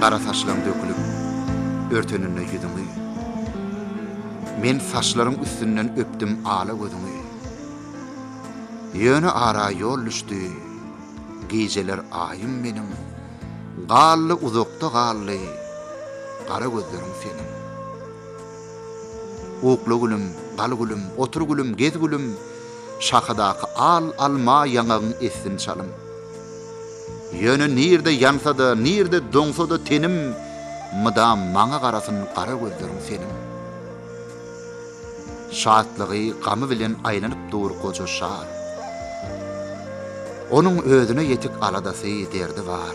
Gara saçlaň dökülip, örteninde ýüzüňi, Men saçlaryň üstünden öpdüm ala gözüňi. Ýöne ara ýol düşdi, gijeler aýym meniň, Galdy uzakda galdy, gara gözleriň seniň. Ukla gülüm, gal gülüm, otur gülüm, gez gülüm, Şahadaky al alma ýaňagyň essin çalym. Ýöne nirde ýansa-da, nirde doňsa-da tenim, Mydam maňa garasyn gara gözleriň seniň. Şatlygy, gamy bilen aýlanyp dur goja şa. Onuň özüne ýetik aladasy, derdi bar.